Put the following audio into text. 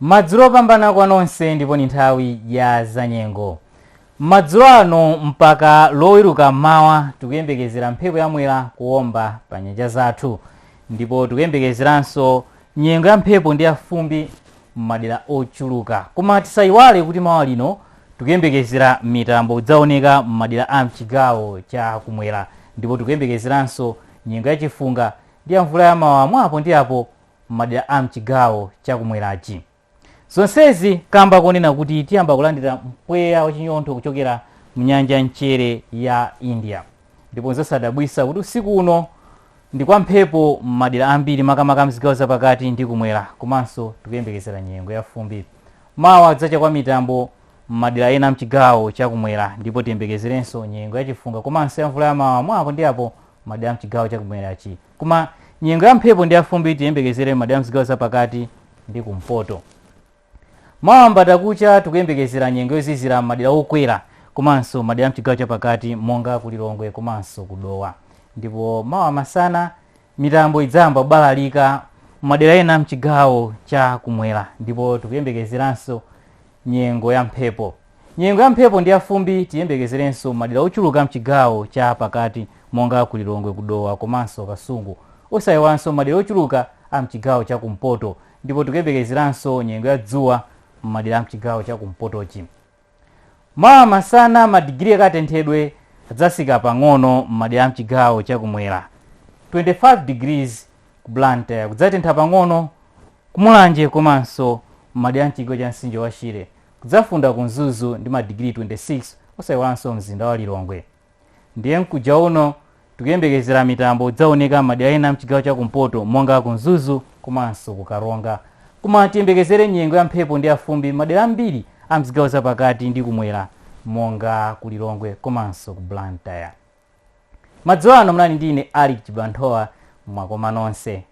Madzulo opambana kwa nonse ndipo ndi nthawi ya zanyengo. Madzulo ano mpaka loweruka m'mawa tikuyembekezera mphepo ya mwera kuomba pa nyanja zathu ndipo tikuyembekezeranso nyengo ya mphepo ndi ya fumbi m'madera ochuluka. Koma tisayiwale kuti mawa lino tikuyembekezera mitambo idzaoneka m'madera a mchigawo cha kumwera ndipo tikuyembekezeranso nyengo ya chifunga ndi ya mvula ya mawawa mwa apo ndi apo m'madera a m'chigawo cha kumwerachi. Zonsezi kamba konena kuti tiyamba kulandira mpweya wachinyontho kuchokera mnyanja yamchere ya India. Ndipo nzosadabwisa kuti usiku uno ndi kwa mphepo m'madera ambiri makamaka mzigawo zapakati ndi kumwera komanso tikuyembekezera nyengo ya fumbi. Mawa kudzacha kwa mitambo m'madera ena mchigawo cha kumwera ndipo tiyembekezerenso nyengo ya chifunga komanso ya mvula ya mawawa mwa apo ndi apo m'madera a mchigawo cha kumwerachi. Koma nyengo ya mphepo ndi yafumbi tiyembekezere m'madera amzigawo zapakati ndi kumpoto. Mawa mbandakucha tikuyembekezera nyengo yozizira m'madera okwera komanso madera amchigawo chapakati monga ku Lilongwe komanso ku Dowa. Ndipo mawa masana mitambo idzayamba kubalalika m'madera ena amchigawo cha kumwera ndipo tikuyembekezeranso Nyengo ya mphepo Nyengo ya mphepo ndi ya fumbi tiyembekezerenso m'madera ochuluka amchigawo cha pakati monga ku Lilongwe ku Dowa komanso Kasungu. Osayiwalanso m'madera ochuluka amchigawo cha kumpoto ndipo tikuyembekezeranso nyengo ya dzuwa m'madera amchigawo cha kumpotochi. Mawa masana madigiri akatenthedwe adzatsika pang'ono m'madera amchigawo cha kumwera. 25 degrees ku Blantyre kudzatentha pang'ono Ku Mulanje komanso m'madera a m'chigawo cha mtsinje wa Shire kudzafunda ku Mzuzu ndi madigiri 26 osaiwalanso mzinda wa Lilongwe. Ndiye mkuja uno tikuyembekezera mitambo idzaoneka m'madera ena a m'chigawo cha kumpoto monga ku Mzuzu komanso ku Karonga. Koma tiyembekezere nyengo ya mphepo ndi ya fumbi m'madera ambiri a m'zigawo za pakati ndi kumwera monga ku Lilongwe komanso ku Blantyre. madzulo ano munali ndi ine Alick Chibanthowa mwakoma nonse